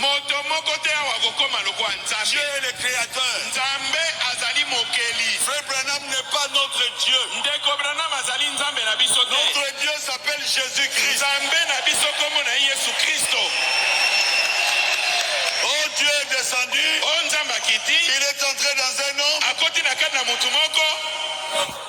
Moto moko te awa akokoma lokola Nzambe. Dieu est le createur. Nzambe azali mokeli. Frère Branham n'est pas notre Dieu. Ndeko Branham azali Nzambe na biso te. Notre Dieu s'appelle Jésus-Christ. Nzambe na biso kombo na ye Yesu Kristo. Oh Dieu est descendu. Oh Nzambe akiti. Il est entré dans un homme. Akoti na kati na moto moko.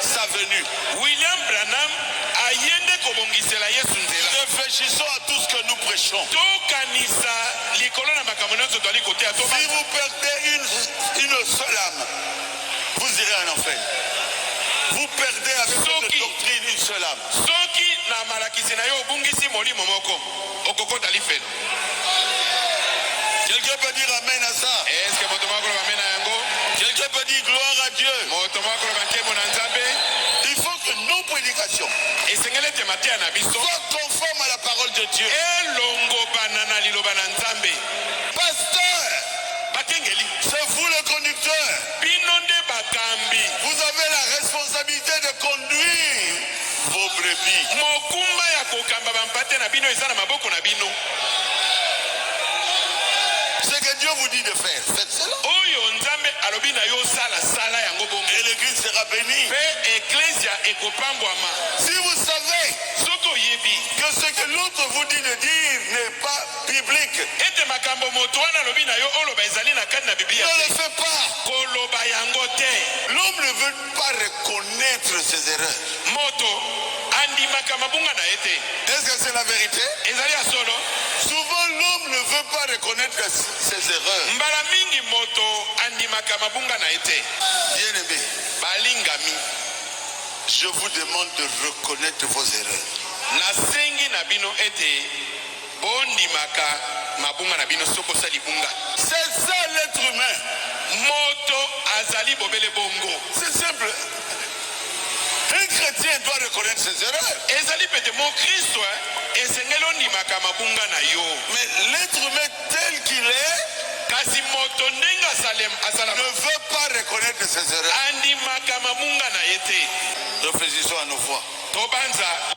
sa venue. William Branham aye nde kobongisela Yesu nzela. Reflechissons à tout ce que nous prechons. Tokanisa likolo na makambo nyonso tozali koteya. Si vous perdez une, une seule âme, vous irez en enfer. Vous perdez avec cette doctrine une seule âme. Soki na malakisi na yo obungisi molimo moko. okokota lifelo quelqu'un peut dire amen à ça est ce que moto moko koloba amen na yango quelqu'un peut dire gloire à dieu moto moko koloba nkembo na nzambe il faut que nos prédications esengeli ete mateya na biso soit conforme à la parole de dieu elongobana na liloba na nzambe pasteur bakengeli c'est vous le conducteur bino nde bakambi vous avez la responsabilité de conduire Vos brebis. Mokumba ya kokamba bampate na bino eza na maboko na bino. Ce que Dieu vous dit de faire, faites cela. Oyo Nzambe alobi na yo sala sala yango bongo. Et l'église sera bénie. Pe eklesia ekopambwama. Si vous savez soki oyebi que ce que l'autre vous dit de dire n'est pas biblique, ete makambo moto wana alobi na yo oloba ezali na kati na Biblia ne le fais pas. Koloba yango te. L'homme ne veut pas reconnaitre ses erreurs. Moto andimaka mabunga na ye te. Est-ce que c'est la vérité? Ezali ya solo. Souvent l'homme ne veut pas reconnaître ses erreurs. Mbala mingi moto andimaka mabunga na ye te. Bien-aimé, balingami, je vous demande de reconnaître vos erreurs. Nasengi na bino ete Bo ndimaka mabunga na bino soki osa libunga. C'est ça l'etre humain moto azali bobele bongo. C'est simple un chretien doit reconnaître ses erreurs. Ezali pete mo Kristo eh, esengeli ondimaka mabunga na yo. Mais l'etre humain tel qu'il est kasi moto ndenge asalem asala ne veut pas reconnaître ses erreurs. Andimaka mabunga na ye te. Réfléchissons à nos fois. Tobanza.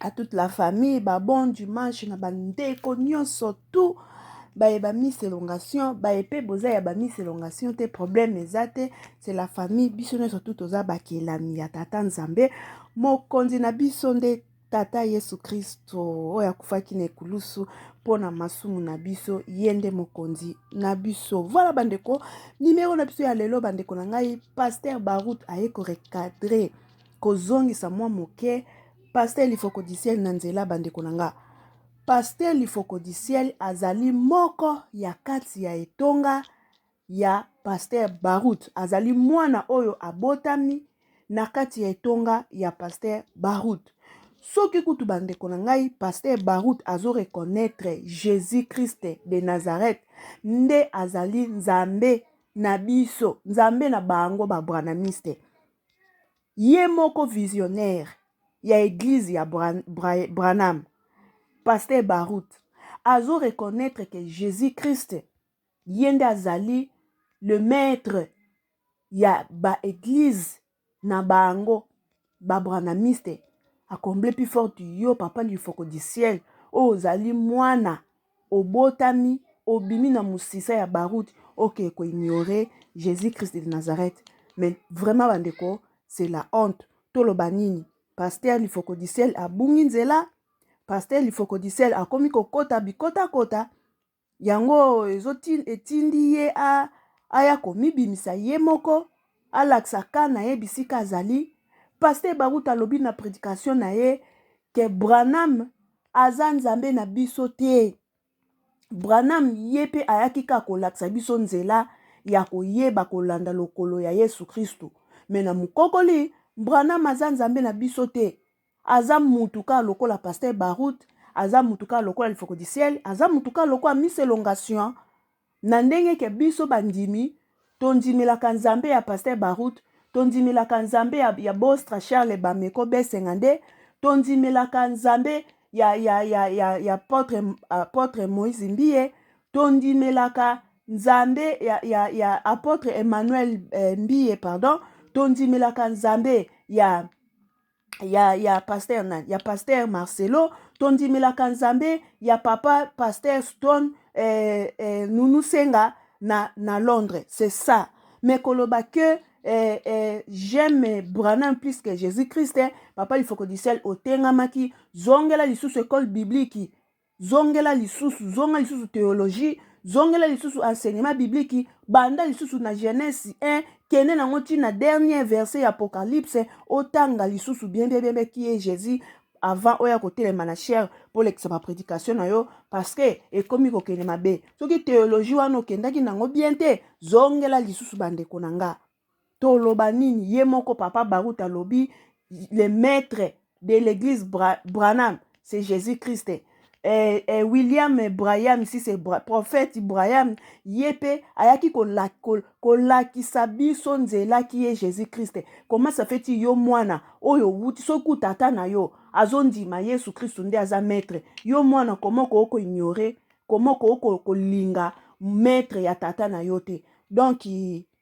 à toute la famille ba bon dimanche na ba ndeko nyonso tout baye ba miss elongation baye mpe boza ya ba miss elongation te problème eza te c'est la famille biso nyonso tout toza bakelami ya tata nzambe mokonzi na biso nde tata yesu kristo oyo akufaki na ekulusu mpo na masumu na biso ye nde mokonzi na biso voilà bandeko nimero na biso ya lelo bandeko na ngai paster barout aye korecadre kozongisa mwa moke Pasteur Lifoko du Ciel na nzela bandeko na nga. Pasteur Lifoko du Ciel azali moko ya kati ya etonga ya Pasteur Barut. Azali mwana oyo abotami na kati ya etonga ya Pasteur Barut. Soki kutu bandeko na ngai Pasteur Barut azo reconnaître Jésus Christ de Nazareth nde azali Nzambe na biso, Nzambe na bango ba Branhamiste. ye moko visionnaire ya eglise ya Branham pasteur Barut azo reconnaître que Jesus Christ ye nde azali le maître ya ba eglise na bango ba branamiste akomble plus forte yo papa lifoko du ciel oyo ozali mwana obotami obimi na musisa ya baroud ok ko ignore Jesus Christ de Nazareth mais vraiment ba ndeko c'est la honte toloba nini pasteur lifokodiciel abungi nzela pasteur lifokodiciel akomi kokota bikota kota yango ezo etindi ye a aya komibimisa ye moko Alakisa cas na ye bisika azali. Pasteur Baruta alobi na predication na ye que Branham aza Nzambe na biso te. Branham ye pe ayaki kaka kolakisa biso nzela ya koyeba kolanda lokolo ya Yesu Kristu. Me na mukokoli, Branham aza Nzambe na biso te. Aza mutu kaka lokola Pasteur Barut, aza mutu kaka lokola Lifoko du Ciel, aza mutu kaka lokola Miss Elongation. Na ndenge ke biso bandimi tondimelaka Nzambe ya Pasteur Baruth, tondimelaka Nzambe ya, ya Bostra Charles Bameko Besenga nde tondimelaka Nzambe ya, ya, ya, ya, ya apotre, apotre Moïse Mbiye, tondimelaka Nzambe ya, ya, ya apotre Emmanuel eh, Mbiye, pardon, tondimelaka Nzambe ya ya, ya pasteur nani ya pasteur marcelo tondimelaka nzambe ya papa pasteur stone eh, eh, nunu senga na, na londres c'est ça mais koloba que eh, eh, j'aime branham plus que jésus christ eh, papa lifoko du ciel otengamaki zongela lisusu école biblique zongela lisusu zonga lisusu theologie zongela lisusu enseignement biblique banda lisusu na genèse 1 kende nango ti na dernier verset ya apocalypse otanga lisusu bien bien bien bien qui est jésus avant oya kotelema na chair polekisa ba prédication na yo parce que ekomi kokende mabe soki theologie wana okendaki nango bien te zongela lisusu bandeko na nga Toloba nini ye moko papa Barut alobi le maître de l'église Bra Branham c'est Jésus Christ. Et, eh, eh, William Branham si c'est Bra prophète Branham ye pe ayaki kolakisa ko, ko biso nzela ki ye Jésus Christ. Comment ça fait yo mwana oyo wuti soki tata na yo azondima Yesu Christ nde aza maître. Yo mwana comment ko ko ignorer, comment ko ko kolinga maître ya tata na yo te. Donc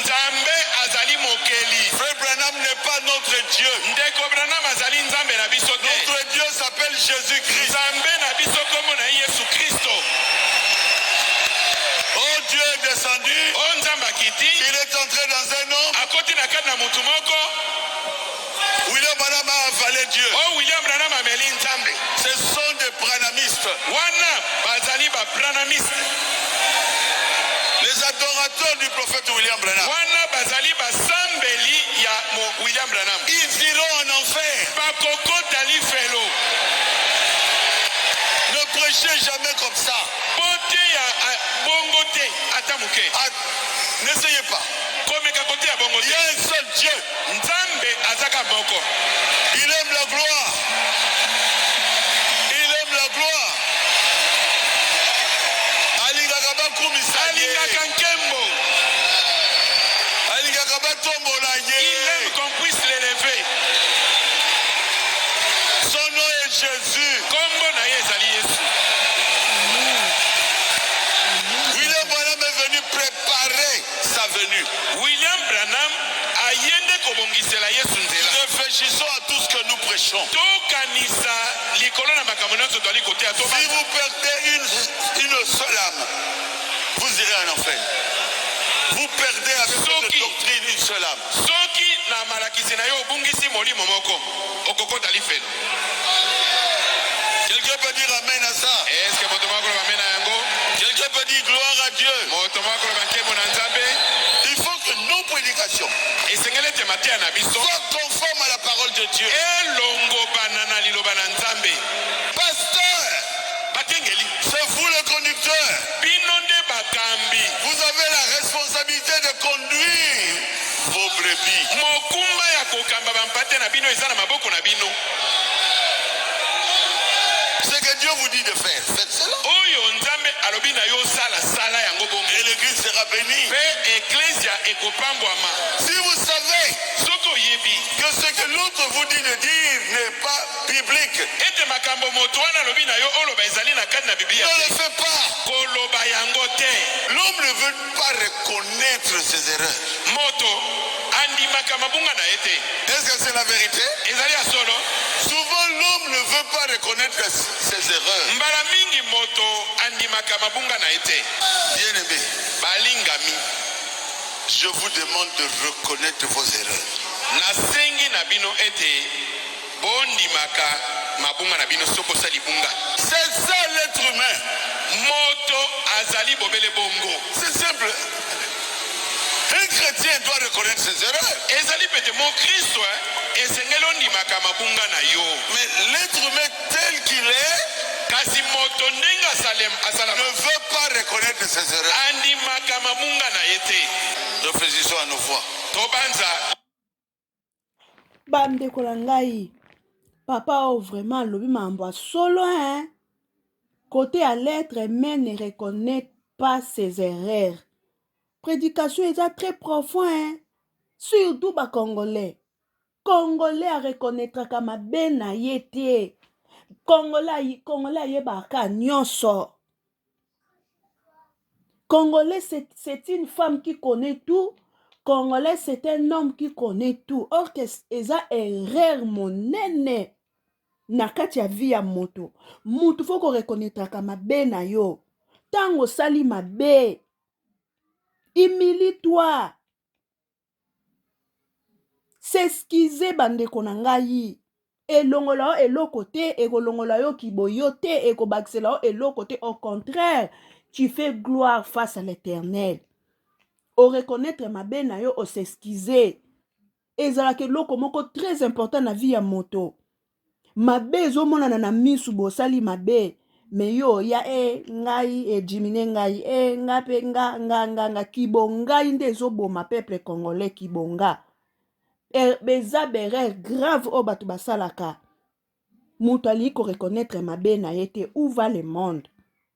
Nzambe azali mokeli. Frère Branham n'est pas notre Dieu. Ndeko Branham azali Nzambe na biso te. Notre Dieu s'appelle Jésus-Christ. Nzambe na biso kombo na Yesu Kristo. Oh Dieu est descendu. Oh Nzambe akiti. Il est entré dans un homme. Akoti na kati na mutu moko. William Branham a avale Dieu. Oh, William Branham ameli Nzambe. Ce sont des branhamistes. Wana bazali ba branhamistes. Les adorateurs du prophète William Branham. Wana bazali basambeli ya William Branham. Ils iront en enfer. Bakokota lifelo. Ne prêchez jamais comme ça. Bote ya bongo te ata moke. N'essayez pas. Komeka kote ya bongo te. Il y a un seul Dieu. Nzambe aza kaka moko. Il aime la gloire. Il aime la gloire. Alingaka bakumisa ye. Alingaka nkembo. Alingaka batombola ye. Il aime qu'on puisse l'élever. Son nom est Jésus. Kombo na ye ezali Yesu. William Branham est venu préparer sa venue. William Branham aye nde kobongisela Yesu nzela. Réfléchissons à tout ce que nous prêchons. Tokanisa likolo na makambo nyonso tozali koteya. Si Toba- vous perdez une, une seule âme, vous irez en enfer. Vous perdez avec votre Soki. doctrine une seule âme. Soki na malakisi na yo obungisi molimo moko, okokota lifelo quelqu'un peut dire amen à ça est ce que moto moko koloba amen na yango quelqu'un peut dire gloire à dieu moto moko koloba nkembo na nzambe il faut que nos prédications esengeli ete mateya na biso soit conforme à la parole de dieu elongobana na liloba na nzambe pasteur bakengeli c'est vous le conducteur bino nde bakambi vous avez la responsabilité de conduire vos brebis. Mokumba ya kokamba bampate na bino eza na maboko na bino. Ce que Dieu vous dit de faire, faites cela. Oyo Nzambe alobi na yo sala sala yango bongo. Et l'église sera bénie. Pe eklezia ekopambwama. Si vous savez soki oyebi que ce que l'autre vous dit de dire n'est pas biblique, ete makambo moto wana alobi na yo oloba ezali na kati na Biblia ne le fais pas. Koloba yango te. L'homme ne veut pas reconnaître ses erreurs. Moto andimaka mabunga na ye te. Est-ce que c'est la vérité? Ezali ya solo. Souvent l'homme ne veut pas reconnaître ses erreurs. Mbala mingi moto andimaka mabunga na ye te. Bien aimé, Balingami, je vous demande de reconnaître vos erreurs. nasengi na bino ete Bo ndimaka mabunga na bino soki osa libunga. C'est ça l'etre humain moto azali bobele bongo. C'est simple. Un chrétien doit reconnaître ses erreurs. Ezali pete mo Kristo eh, esengeli ondimaka mabunga na yo. Mais l'être humain tel qu'il est kasi moto ndenge asalem asala ne veut pas reconnaître ses erreurs. andimaka mabunga na ye te. Réfléchissons à nos voix. Tobanza bandeko na ngai papa oyo vraiment alobi makambo ya solo hein kote ya lettre mais ne reconnait pas ses erreurs prédication eza très profond hein surtout bacongolais congolais areconnaitraka mabe na ye te congolais ayebaka nyonso Congolais c'est une femme qui connaît tout, Congolais c'est un homme qui connaît tout. Or que eza erreur monene na kati ya vie ya moto. Moto faut ko reconnaîtraka mabe na yo. Tango osali mabe, humilie-toi. S'excuser ba ndeko na ngai elongola yo eloko te ekolongola yo kiboyo te ekobakisela yo eloko te au contraire tu fais gloire face à l'éternel o reconnaître mabe na yo o s'excuser ezalaka eloko moko très important na vie ya moto mabe ezomonana na misu bosali mabe me yo oya e eh, ngai edimine eh, ngai e eh, nga mpe nga nga nga nga kibongai nde ezoboma peuple congolais kibonga er, beza berere grave oyo bato basalaka moto alingi koreconnaitre mabe na ye te où va le monde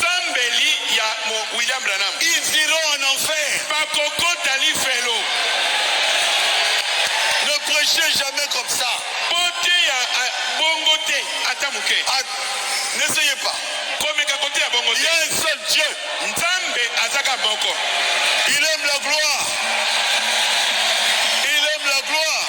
Sambeli ya mo William Branham. Ils iront en enfer. Bakokota lifelo. Ne prêchez jamais comme ça. Boteya ah, bongo te ata moke. Ah, N'essayez pas. Komeka koteya bongo Il y te. a un seul Dieu. Nzambe azaka moko. Il aime la gloire. Il aime la gloire.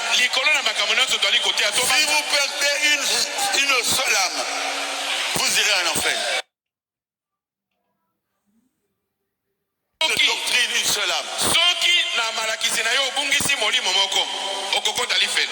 Likolo na makambo nionso tozali koteya to. Si vous perdez une, une seule âme, vous irez en enfer. Soki, doctrine une seule âme. Soki na malakisi na yo obungisi molimo moko, okokota lifelo.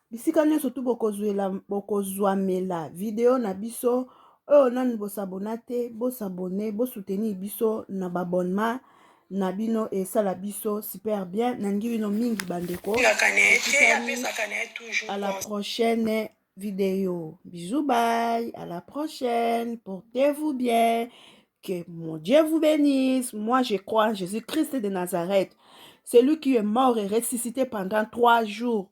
bisika nyonso tu bokozwamela video na biso oyo nanu bosabona te bosabone bosoutenir biso na babonema na bino esala biso super bien nalingi bino mingi bandeko à la prochaine video bisous bye à la prochaine portez-vous bien que mon Dieu vous bénisse moi je crois en Jésus-Christ de Nazareth celui qui est mort et ressuscité pendant trois jours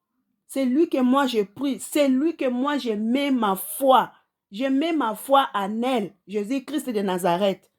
C'est lui que moi je prie, c'est lui que moi je mets ma foi. Je mets ma foi en elle, Jésus-Christ de Nazareth.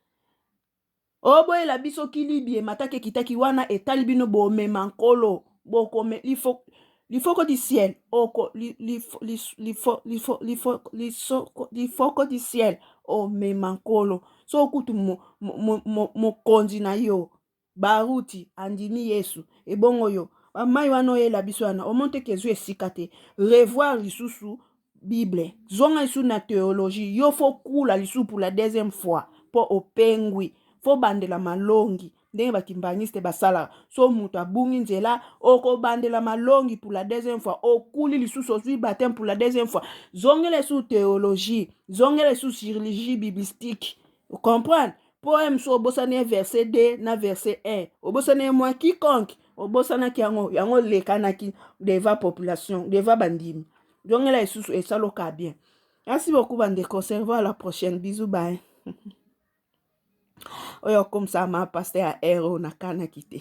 oboyela biso kilibie matake kitaki wana etali bino bomema nkolo bokome lifo lifoko du ciel oko li- lifo- lis- lifo- lifo- lifo- lisoko- lifoko du ciel omema nkolo so kutu mo- mo- mo- mo- mokonzi na yo Baruti andimi Yesu. Ebongo yo? Ba mai wana oyela biso wana, omoni te kezwi esika te. Revoir lisusu Bible. Zonga lisusu na theologie. Yo fo kula lisusu pour la deuxième fois. Po opengwi. Fo bandela malongi. Ndenge ba kimbanguiste basalaka. So moto abungi nzela, okobandela malongi pour la deuxième fois. Okuli lisusu, ozwi baptême pour la deuxième fois. Zongela lisusu theologie. Zongela lisusu chirurgie biblistique. Comprendre? poème so obosani ye verset 2 na verset 1 obosani ye mwa quiconque obosanaki yango yango olekanaki deva population deva bandimi zongela lisusu esaloka bien merci beaucoup bandeko servo à la prochaine bisous bye oyo akomisama paster ya ero na kanaki te